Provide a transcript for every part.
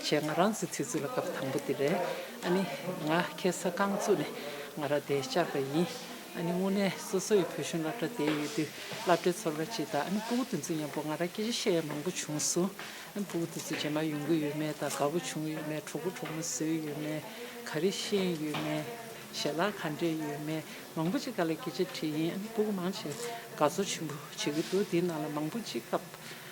བྱས་ང་རང་ཚོའི་ཚེ་ཚུལ་ལ་སྐབས་དང་པོ་དེ་རེད་ཨ་ནི། ང་ཁྱེད་ས་ཀང་བཙུགས་ནས་ང་ར་དེ་བཅར་པ་ཡིན། ཨ་ནི་དངོས་གནས་སོ་སོ་ཡི་བུ་གཞོན་བླ་གྲྭ་དེ་ཡོད་དུས་བླ་གྲྭའི་ཚོར་བ་ཇི་ལྟ་ཨ་ནི་སྤུ་གུ་དེ་ཚོ་མཉམ་པོ་ང་ར་སྐད་ཆ་བཤད་ཡ་མང་པོ་བྱུང་སོང། ཨ་ནི་སྤུ་གུ་དེ་ཚོ་རྗེས་མ་ཡོང་གི་ཡོད་མེད་དང་དགའ་པོ་བྱུང་ཡོད་མེད་གྲོགས་པོ་གྲོགས་མོ་བཟོས་ཡོད་མེད་ག་རེ་ཤེས་ཡོད་མེད་ཞལ་ལག་ག་འདྲེས་ཡོད་མེད་མང་པོ་ཅིག་ག་ལ་སྐད་ཆ་དྲིས་ཡིན་ཨ་ནི་སྤུ་གུ་མང་ཆེ་དགའ་ཚོར་ཆེན་པོ་བྱེད་ཀྱི་འདུག་འདི་ནང་ལ་མང་པོ་ཅིག་སྐབས་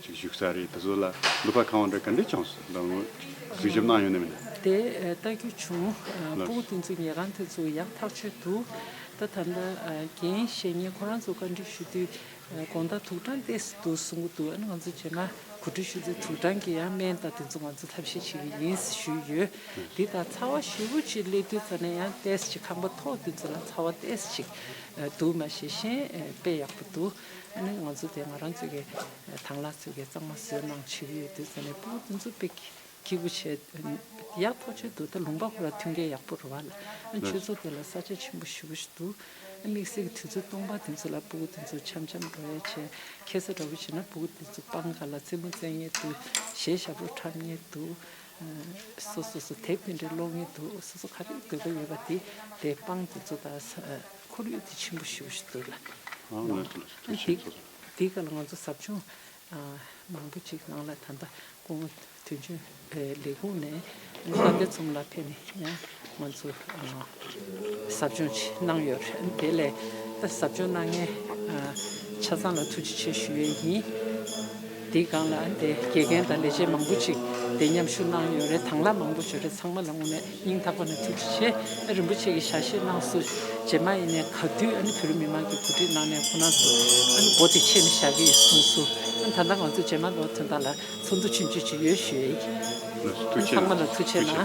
ཅིག་བཞུགས་ས་རེད་དེ་ཚོ་ལ་ལུད་པ་གང་འདྲ་ག་འདྲའི་ཆང་སོགས་ལྡང་ངོ། གཟིགས་ཞིབ་གནང་ཡོང་ནི་མིན། དེ་ལྟ་རྒྱུ་བྱུང། སྤོ་བོ་དེ་ཚོའི་ཉལ་ཁང་དེ་ཚོ་ཡག་ཐག་ཆོད་འདུག་ད་ད་ལྟ་རྒན་བཤེས་གཉེན་ཁོ་རང་ཚོ་བཀའ་འདྲི་ཞུ་དུས་དགོངས་དག་དུག་སྦྲང་བལྟས་སུ་འདུག་གསུང་གི་འདུག་ཨ་ནི་ང་ཚོ་བྱས་ན་གོ་སྒྲིག་ཞུ་ཚེ་དུག་སྦྲང་གི་ཡང་སྨན་དང་དེ་ཚོ་ང་ཚོ་ཐབས་ཤེས་བྱེད་ཀྱི་ཡིན་ཞུས་ཡོད། དེ་ལྟར་ཚ་བ་ཞེ་བོ་གཅིག་སླེབས་དུས་ཙམ་ནས་ཡང་བལྟས་ཅིག་ཁང་པ་ཐོག་དེ་ཚོ་ལ་ཚ་བ་བལྟས་ཅིག་འདུག་མ་ཤེས་ཤེས་དཔེ་ཡག་པོ་འདུག་ཨ་ནི་ང་ཚོ་དེ་ང་རང་ཚོ་གི་དང་ལ་ཚོ་གི་གཙང་མ་བཟོས་གནང་བྱེད་ཀྱི་ཡོད་དུས་ཚོ་ནི་པུའུ་དུན་ཚོ་པེ་ཁི་བུ་ཆེ་ཡག་ཐོག་ཆོད་དུ་ད་ལུང་པ་ཁོ་ར་ཐུན་ཁའི་ཡག་པོ་རུ་བ་ལ་ཨ་ཆོས་ཚོ་དེ་ལ་ས་ཆ་ཆེན་པོ་ཞུ་བུ་ཞུ་དུས་ཨ་དམིགས་བསལ་གྱི་དུས་ཚོད་སྟོང་པ་དེ་ཚོ་ལ་པུའུ་དུན་ཚོ་འཆམ་འཆམ་འགྲོ་ཡ་བྱེད་ཁེ་ས་འདྲ་བུ་བྱེད་ན་པུའུ་དུན་ཚོ་པང་ཁ་ལ་རྩེད་མོ་རྩེད་ངེས་དུས་གཞས་ཞབས་བྲོ་འཁྲབ་ངེས་དུས་སོ་སོ་སོ་དེབ་དེ་འདྲ་ཀློག་ངེས་དུས་སོ་སོ་ག་རེ་དགོས་པ་ཡོད་པ་དེ་དེ་པང་དེ་ཚོ་ད། ཁོར་ཡུག་དེ་ཆེན་པོ་ཞེ་བོ་ཞིག་འདུག་ལ། དེའི་སྐབས་ལ་ང་ཚོ་ཟབ་སྦྱོང་མང་པོ་ཅིག་གནང་ལ་ད་ལྟ་ཁོང་དོན་གཅོད་ལས་ཁུངས་ནས་ལྟ་སྐུལ་ཚོམས་ལ་ཕེབས་ནས་ཡང་ང་ཚོ་ཟབ་སྦྱོང་ཅིག་གནང་ཡོད་རེད། དེ་ལས་ཟབ་སྦྱོང་གནང་མཁན་ཆ་ཚང་ལ་ཐུགས་རྗེ་ཆེ་ཞུ་ཡས་ཡིན། དེའི་སྒང་ལ་དེ་དགེ་རྒན་དང་ལས་བྱེད་མང་པོ་ཅིག་དེ་མཉམ་ཞུགས་གནང་ཡོད་རེད་དྭང་ལ་མང་པོ་བྱོས་རེད་ཚང་མ་ལ་དངོས་གནས་སྙིང་ཐག་པ་ནས་ཐུགས་རྗེ་ཆེ་ཨ་རིན་པོ་ཆེ་གི་ཞལ་བཞེས་གནང་སུ་རྗེས་མ་ཡིན་ནས་ག་དུས་ཨ་ནི་བོད་རིགས་མི་མང་གི་གོ་སྒྲིག་གནང་ནས་ཁོ་ན་ཚོ་ཨ་ནི་སྒོ་དེ་ཕྱེས་ནས་བཞག་གི་ཡོད་གསུངས་སུ་ཨ་ནི་ད་ལྟ་ང་ཚོ་རྗེས་མ་ལོ་ཚོད་ལྟར་ལ་ཚོགས་འདུ་ཆུང་ཆུང་ཅིག་ཡོད་ཞུས་ཨ་ནི་ཚང་མ་ལ་ཐུགས་ཆེ་གནང།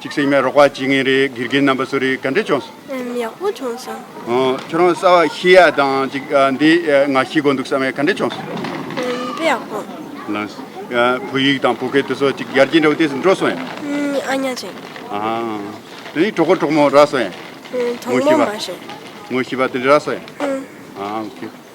གཅིག་སྲིང་མའི་རོགས་པ་གཅིག་ངའི་རེད་དགེ་རྒན་རྣམ་པ་སུ་རེད་ག་འདྲས་བྱུང་སོང། ཨམ་ཡག་པོ་བྱུང་སོང། ཁྱོད་རང་གསར་བ་ཤི་ཡ་དང་གཅིག་འདི་ང་ཤི་དགོས་འདུག་བསམ་ཡས་ག་འདྲས་བྱུང་སོང། ཨམ་འདི་ཡག་པོ། ལན། བོད་ཡིག་དང་བོད་སྐད་དུ་སོ་གཅིག་ཡར་རྒྱས་འདྲ་བོ་དེས་འགྲོ་སོང་ཡ། ཨམ་ཨ་ཉག་ཅིག། ཨམ་ཨ། གྲོགས་པོ་གྲོགས་མོ་རག་སོང་ཡ། གྲོགས་མོ་མ་བྱུང། ངོ་ཤི་བ་དེ་འདྲས་རག་སོང་ཡ། ཨམ་ཨོ་ཁེ།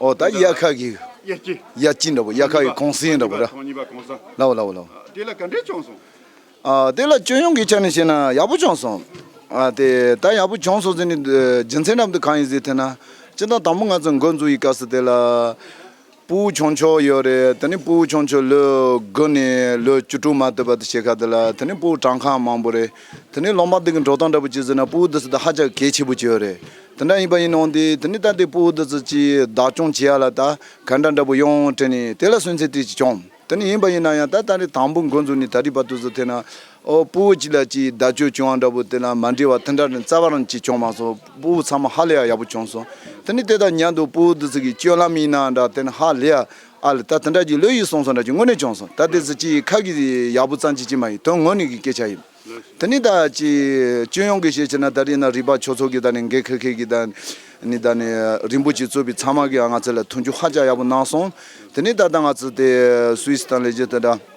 ཨོ་ད་དབྱར་ཁ་གི། དབྱར་སྐྱིད། དབྱར་སྐྱིད་འདྲ་པོ་དབྱར་ཁ་གི་གོང་སྲིན་འདྲ་པོ་ར། ཐོག་གཉིས་པ་གོང་ས། ལ་བ་ལ་བ་ལ་བ། དེ་ལ་ག་འདྲས་བྱུང་སོང། ཨ་དེ་ལ་སྤྱོད་ཡོང་གི་ཆ་ནས་བཤད་ན་ཡག་པོ་བྱུང་སོང། ཨ་དེ་ད་ཡག་པོ་བྱུང་སོང་ཟེར་ནས་རྒྱུ་མཚན་རྣམས་དེ་གང་ཡིན་ཟེར་ཐལ་ན། སྤྱིར་བཏང་དང་པོ་ང་ཚོས་འགོ་འཛུགས་ཡི་ག་སོ་དེ་ལ། སྤུ་བོ་ཆུང་ཆོག་ཡོད་རེད་དེ་ནས་སྤུ་བོ་ཆུང་ཆོག་ལོས་དགུ་ནས་ལོས་བཅུ་དྲུག་མ་ཐོས་པ་དེ་ཤེས་ཁ་དེ་ལ་དེ་ནས་སྤུ་བོ་གྲངས་ཁ་མང་པོ་རེད། དེ་ནི་ལོ་མ་དག་གི་འགྲོ་སྟངས་འདྲ་པོ་བྱས་ཟེར་ན་སྤུ་བོ་འདི་ཚོ་དང་ཧ་ཅང་གལ་ཆེ་པོ་བྱས་ཡོད་རེད། དེ་འདྲ་ཡིན་པ་ཡིན་ནའང་དེ་དེ་ནི་ད་ལྟའི་སྤུ་བོ་འདི་ཚོ་ཅིས་བདག་སྐྱོང་བྱེད་ཡ་ལ་ད་ག་འདྲ་འདྲ་པོ་ཡོང་དྲན་ནས་དེ་ལ་སུན་གཙེར་ཏིལ་གྱིས་སྐྱོང། དེ་ནི་ཡིན་པ་ཡིན་ན་ཡང་ད་ད་རེས་དང་པོ་འགོ་འཛུགས་ནས་ད་རིས་པ་དུས་སུ་ཐེ་ན་ཨོ་སྤུ་བོ་གཅིག་ལ་ཅིས་བདག་སྤྱོད་བྱུང་བ་འདྲ་པོ་དེ་ལ་མ་འདྲིས་བ་དེ་འདྲ་རེད་རྩ་བ་རང་གཅིག་སྐྱོང་མ་སོང་སྤུ་བོ་ཚང་མ་ཧ་ལས་ཡ་ཡག་པོ་བྱུང་སོང་དེ་ནི་དེ་ལྟར་ཉན་འདུག་སྤུ་བོ་འདི་ཚོ་གི་སྤྱོད་ལམ་ཡིན་ནའང་འདྲ་དེ་ནི་ཧ་ལས་ཡ། ཨ་ལ་ད་དེ་འདྲ་གྱི་ལོས་ཡིན་སོང་སོང་འདྲ་གྱི་དངོས་གནས་བྱུང་སོང་ད་དེ་ཚོ་ཅི་ཡི་ཁ་གི་ཡག་པོ་ཙང་ཅི་ཅི་མ་ཡིན་དོན་དངོས་ནས་གི་སྐད་ཆ་ཡིན་དེ་ནི་ད་ཅི་ཅི་ཡོང་གི་ཤེས་ཆེ་ན་ད་རིང་ན་རིག་པ་ཆོས་ཚོགས་ཀྱི་ད་ནི་འགས་ཁེར་ཁེར་གྱི་ད་ནི་ད་ནི་རིན་པོ་ཆེ་གཙོས་པའི་ཚང་མ་གི་ང་ཚོ་ལ་མཐུན་འགྱུར་ཧ་ཅང་ཡག་པོ་གནང་སོང་དེ་ནི་ད་ད་ང་ཚོ་དེ་སུའི་སི་ཐང་ལས་བྱེད་དེ་འདྲ།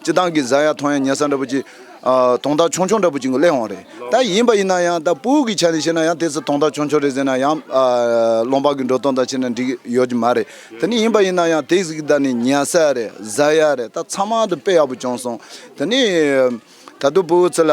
སྤྱི་བཏང་གི་བཟའ་ཡག་ཐོང་ཡག་ཉལ་ས་འདྲ་པོ་ཅིག། དོང་ཐག་ཆོང་ཆོང་འདྲ་པོ་ཅིག་གླེང་འོང་རེད་ད་ཡིན་པ་ཡིན་ན་ཡང་ད་སྤུའུ་གི་ཆ་ནས་བཤད་ན་ཡང་དེ་ཚོ་དོང་ཐག་ཆོང་ཆོང་རེད་ཟེར་ན་ཡང་སློང་འབག་གི་འགྲོ་སྟངས་དང་ཕྱེ་ན་འགྲིག་ཡོད་ཀྱི་མ་རེད་དེ་ནི་ཡིན་པ་ཡིན་ན་ཡང་དེ་ཟིག་ད་ནི་ཉལ་ས་ཡག་རེད་བཟའ་ཡག་རེད་ད་ཚང་མ་དུ་དཔེ་ཡག་པོ་བྱུང་སོང་དེ་ནི། ད་དུ་སྤུའུ་ཚོ་ལ་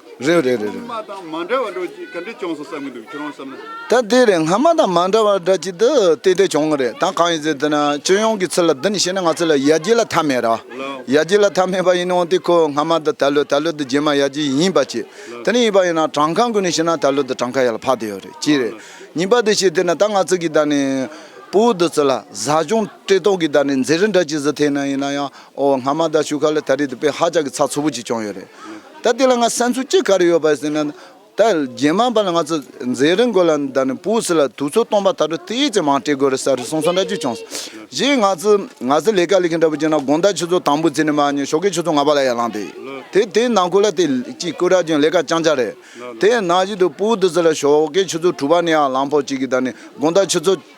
རེད་རེད་རེད་རེད། ངྷ་མ་དང་མ་འདྲ་བ་འགྲོ་ཅིག་ག་འདྲས་བྱུང་སོང་བསམ་གྱི་འདུག་ཁྱོད་རང་བསམ་ན། ད་དེ་རེད་ངྷ་མ་དང་མ་འདྲ་བ་འདྲ་ཅིག་ཏུ་དེ་དེ་བྱུང་གི་རེད་ད་གང་ཡིན་ཟེར་དུས་ན་སྤྱི་ཡོངས་ཀྱི་ཚུལ་ལ་འདི་ནས་བཤད་ན་ང་ཚོ་ལ་ཡ་རྒྱལ་ལ་མཐའ་མེད་ར་ཡ་རྒྱལ་ལ་མཐའ་མེད་པ་ཡིན་འོང་དེ་ཁོ་ངྷ་མ་འདི་ད་ལོ་ད་ལོ་འདི་རྗེས་མ་ཡ་རྒྱལ་ཡིན་པ་ཅི་དེ་ནས་ཡིན་པ་ཡིན་ན་བྲང་ཁང་ཀུན་ནས་བཤད་ན་ད་ལོ་འདི་བྲང་ཁ་ཡར་ལ་འཕགས་དེ་ཡོད་རེད་ཅི་རེད་ཉིན་པ་འདི་བཤད་དེ་ན་ད་ང་ཚོ་གི་ད་ནས་སྤུ་བོ་འདི་ཚོ་ལ་བཟའ་སྐྱོང་བཀྲེས་ལྟོགས་ཀྱི་ད་ནས་མཛེ་རི་འདྲ་ཅིག་བཟོ་ཐེ་ན་ཡིན་ན་ཡང། ཨོ་སྔ་མ་ད་ཆུ་ཁ་ལ་ད་རེས་དེ་པས་ཧ་ཅག་གི་ཚ་ཚོ་བོ་ཅིག་བྱུང་ཡོད་རེད། ད་དེ་ལ་ང་སེམས་ཚོར་ཅི་ག་རེ་ཡོད་པ་ཟེར་ན། ད་རྗེས་མ་པ་ལ་ང་ཚོ་མཛེས་རིན་དགོས་ལ་ད་ནི་པུའུ་སི་ལ་དུག་ཚོད་སྟོང་པ་ད་དྲོ་དེ་ཡས་ཀྱི་མང་སྤྲད་དགོས་རེད་ས་རེད་གསུངས་སོང་འདྲ་ཅིག་བྱུང་སོང། གཞིས་ང་ཚོ་ང་ཚོ་ལས་ཀ་ལས་མཁན་འདྲ་པོ་བྱས་ན་དགོང་ད་ཆུ་ཚོད་དང་པོ་བརྩིས་ནས་མ་ཉོས་ཞོགས་ཀའི་ཆུ་ཚོད་ལྔ་པ་ལ་ཡར་ལངས་ཏེ། དེ་དེའི་ནང་ཁུལ་ལ་དེ་གཅིག་སྐུ་དྲག་ཅིང་ལས་ཀ་རྐྱང་རྐྱང་རེད། དེ་ཡང་ནང་བཞིན་དུ་པུའུ་དུ་སི་ལ་ཞོགས་ཀའི་ཆུ་ཚོད་དྲུག་པ་ནས་ཡར་ལངས་ཕོག་ཅིག་གིས་ད་ནི་དགོང་ད་ཆུ་ཚོད།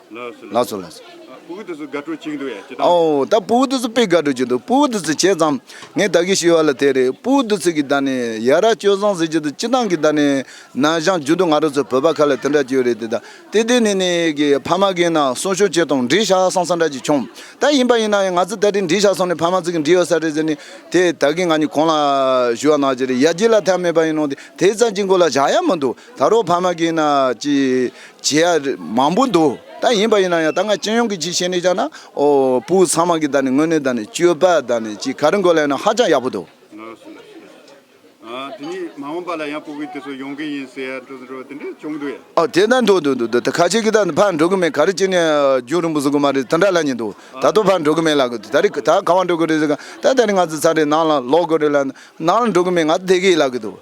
ལགས་སོ་ལགས་སོ། སྤུ་གུ་དེ་ཚོ་དགའ་སྤྲོ་གཅིག་འདུག་ཡ་ཅི་ཐང། ཨོ་ད་སྤུ་གུ་དེ་ཚོ་དཔེ་དགའ་སྤྲོ་གཅིག་འདུག་སྤུ་གུ་དེ་ཚོ་བྱས་ཙང་ངས་ད་གི་ཤི་བ་ལ་དེ་རེད་སྤུ་གུ་དེ་ཚོས་གི་ད་ནི་ཡ་ར་སྤྱོད་བཟང་ཟེར་གྱི་འདུག་ཅི་ཐང་གི་ད་ནི་ན་ཞང་རྒྱུན་དུ་ང་རོ་ཚོ་བོད་པ་ཁ་ལ་དེ་འདྲ་སྐྱོ་རེད་དེ་ད་དེ་དེ་ནི་ནི་གི་ཕ་མ་གི་ན་སོང་ཤོ་བྱེད་དང་འདྲིས་ཤ་སོང་ས་འདྲ་གཅིག་བྱུང་ད་ཡིན་པ་ཡིན་ན་ཡང་ང་ཚོ་ད་དེ་འདྲིས་ཤ་སོང་ནི་ཕ་མ་ཚོ་གི་འདྲིས་ཡོད་ས་རེད་ཟེར་ནི་དེ་ད་གི་ང་ནི་གང་ལ་ཞུ་བ་ན་གི་རེད་ཡ་གྱི་ལ་ཐལ་མེད་པ་ཡིན་ནོ་དེ་དེ་ཙམ་གྱི་མགོ་ལ་བཞག་ཡ་མི་འདུག་ད་རུང་ཕ་མ་གིས་ན་ཅི་བྱེད་ཡ་མང་པོ་འདུག་ད་ཡིན་པ་ཡིན་ན་ཡང་ད་ང་སྤྱི་ཡོངས་ཀྱི་ཅིག་བཤད་ནས་ཅག་ན་ཨོ་སྤུ་ཚང་མ་གི་ད་ནི་དངོས་གནས་ད་ནི་སྤྱོད་པ་ད་ནི་ཅིག་ག་རི་མགོ་ལས་ན་ཧ་ཅང་ཡག་པོ་འདུག། ནོར་བུ་ལགས་ཞེས་ཨ་དེ་ནི་མ་འོངས་པ་ལ་ཡང་སྤུ་གུ་དེ་ཚོ་ཡོང་གི་ཡིན་ཟེར་ཡ་འགྲོ་འགྲོ་དེ་འདྲས་བྱུང་འདུག་ཡ། ཨོ་དེ་ད་འགྲོ་འདུག་འདུག་འདུག་ཁ་ཅིག་གིས་ད་ཕར་འགྲོ་གི་མེད་ག་རི་སྤྱི་ནས་རྒྱུགས་རིང་པོ་བཟོ་གི་མ་རེད་དེ་འདྲ་ལ་ཉེ་འདུག་ད་དུ་ཕར་འགྲོ་གི་མེད་ལ་ད་རི་ད་གང་བ་འགྲོ་གི་རེད་ཟེར་ག་ད་ད་ནི་ང་ཚོ་ཚར་རེ་ནང་ལ་ལོག་གི་རེད་ལ་ནང་ལ་འགྲོ་གི་མེད་ང་ཚོ་བསྡད་གི་ཡིད་ལ་གི་འདུག།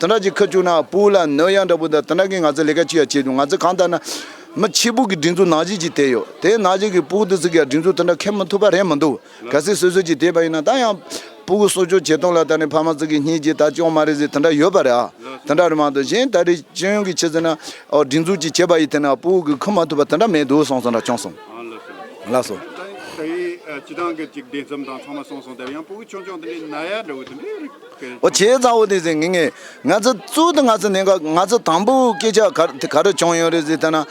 དེ་འདྲ་ཅིག་ཁ་བཅུག་ན་སྤུ་ལ་ནོར་ཡ་འདྲ་བོ་འདུག་དེ་འདྲ་གིས་ང་ཚོས་ལས་ཀ་ཅི་ཡང་བྱེད་མི་ཐུབ་ང་ཚོས་གང་ལྟར་ན། མི་ཕྱི་སྦུག་གི་སྒྲིག་འཛུགས་ནང་བཞིན་ཅིག་བསྡད་ཡོད་དེ་ནང་བཞིན་གྱི་སྤུ་དེ་ཚོས་ཀྱང་སྒྲིག་འཛུགས་དེ་འདྲ་འཁེལ་མི་ཐུབ་པ་རེད་མི་འདུག་གལ་སྲིད་སོ་སོ་ཅིག་བསྡད་པ་ཡིན་ན་ད་ཡང། སྤུ་གུ་གསོ་སྐྱོང་བྱེད་སྟངས་ལ་ད་ནི་ཕ་མ་ཚོ་གིས་གཉིད་ཀྱིས་ད་སྐྱོང་མ་རེད་ཟེར་དེ་འདྲ་ཡོད་པ་རེད་ཨ། དེ་འདྲ་རེད་མ་གཏོགས་གཞན་ད་རེས་སྤྱི་ཡོངས་ཀྱི་ཕྱི་ཚུལ་ན། སྒྲིག་འཛུགས་ཅིག་བྱས་པ་ཡི་དེ་ན་སྤུ་གུ་ཁུར་མ་ཐུབ་པ་དེ་འདྲ་མེད་འདུག་སོང་སོང་འདྲ་བྱུང་སོང། ལགས་སོ། ད་ཡིན་ད་ཡིན་སྤྱི་སྟངས་ཀྱི་ཅིག་བདེ་འཚམ་དང་ཚང་མ་སོང་སོང་དེ་བས་ཡང་སྤུ་གུ་ཆུང་ཆུང་དེ་འདྲའི་ནད་ཡ་འདྲ་བོ་དེ་འདྲའི་རིགས། ཨོ་བྱས་ཙང་བོ་དེ་ཟེར་ངེས་ངེས། ང་ཚོ་གཙོ་དང་ང་ཚོ་གནད་འགག་ང་ཚོ་དང་པོའི་སྐད་ཆ་ག་དེ་ག་རེ་བྱུང་ཡོད་རེད་ཟེར་ཐལ་ན།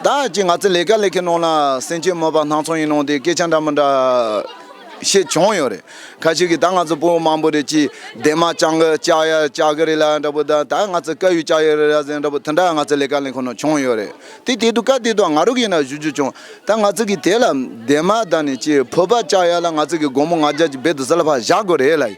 ད་ཅི་ང་ཚོ་ལས་ཀ་ལས་ཀའི་ནང་ལ་སེམས་སྐྱིད་མོད་པ་སྣང་ཚོང་ཡིན་ནོ་དེ་སྐད་ཆ་འདྲ་མི་འདྲ། ཤེས་བྱུང་ཡོད་རེད་ཁ་ཤས་ཀྱིས་ད་ང་ཚོ་བོད་མང་པོ་རེད་ཅི་འདས་མ་བཅང་གི་བཅག་ཡ་བཅག་གི་རེད་ལ་འདྲ་པོ་ད་ད་ང་ཚོ་བཀའ་ཡུལ་བཅག་ཡོད་རེད་ལ་ཟེར་འདྲ་པོ་དེ་འདྲ་ང་ཚོ་ལས་ཀ་ལས་ཁུངས་ནང་བྱུང་ཡོད་རེད་དེ་དེ་དུས་སྐབས་དེ་དུས་ང་རོ་གིས་ན་ཞུ་རྒྱུ་བྱུང་ད་ང་ཚོ་གིས་དེ་ལ་འདས་མ་ད་ནི་ཅི་བོད་པ་བཅག་ཡ་ལ་ང་ཚོ་གིས་དགོང་མོ་ང་རྒྱལ་གྱི་སྦས་དུ་ཟ་ལ་བ་བཞག་དགོས་རེད་ལ།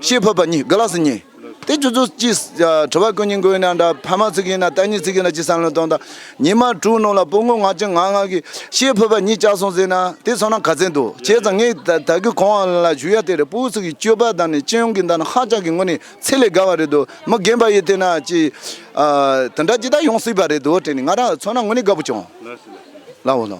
ཞེས་འཕོས་པ་གཉིས་དགུ་ལ་སོ་གཉིས། དེ་བཅུ་ཚོ་གཅིག། ཁྲོ་བ་ཀུན་གཉིས་མགོན་ཡིན་ན་འདྲ། ཕ་མ་ཚིག་ཡིན་ན་རྟ་གཉིས་ཚིག་ཡིན་ན་ཅི་བསམ་བློས་སྟོང་དང། ཉི་མ་དྲུག་རྣོ་ལ་སྤུ་ངོ་ང་གཅིག་ང་ང་གི། ཞེས་འཕོས་པ་གཉིས་ལྕགས་སོང་ཟེར་ན་དེ་སོང་ན་ག་ཚད་འདུག་བྱས་ཙང་ངས་ད་གི་གོང་བ་ལ་ཞུ་ཡ་དེ་རེད་སྤུའི་ཚིག་གི་སྤྱོད་པ་དང་ནི་སྤྱི་ཡོངས་ཀྱི་མདའ་ནི་ཧ་ཅང་གི་ངོ་ནི་ཚད་ལས་བརྒལ་བ་རེད་འདུག་མི་རྒན་པ་ཡིས་དེ་ན་ཅི། དེ་འདྲ་ཅི་ལྟར་ཡོང་སྲིད་པ་རེད་འདུག་དྲན་ནས་ང་རང་ཚོ་ན་ངོ་ནི་དགའ་པོ་བྱུང། ལ་འོ་ལ།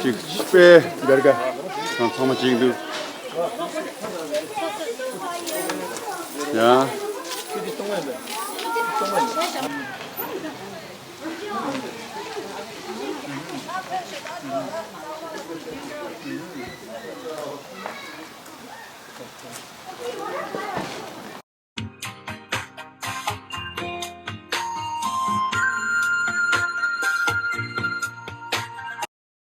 གཅིག་པའི་འབེར་ག་དང་ཚང་མ་གཅིག་འདུག་ཡང།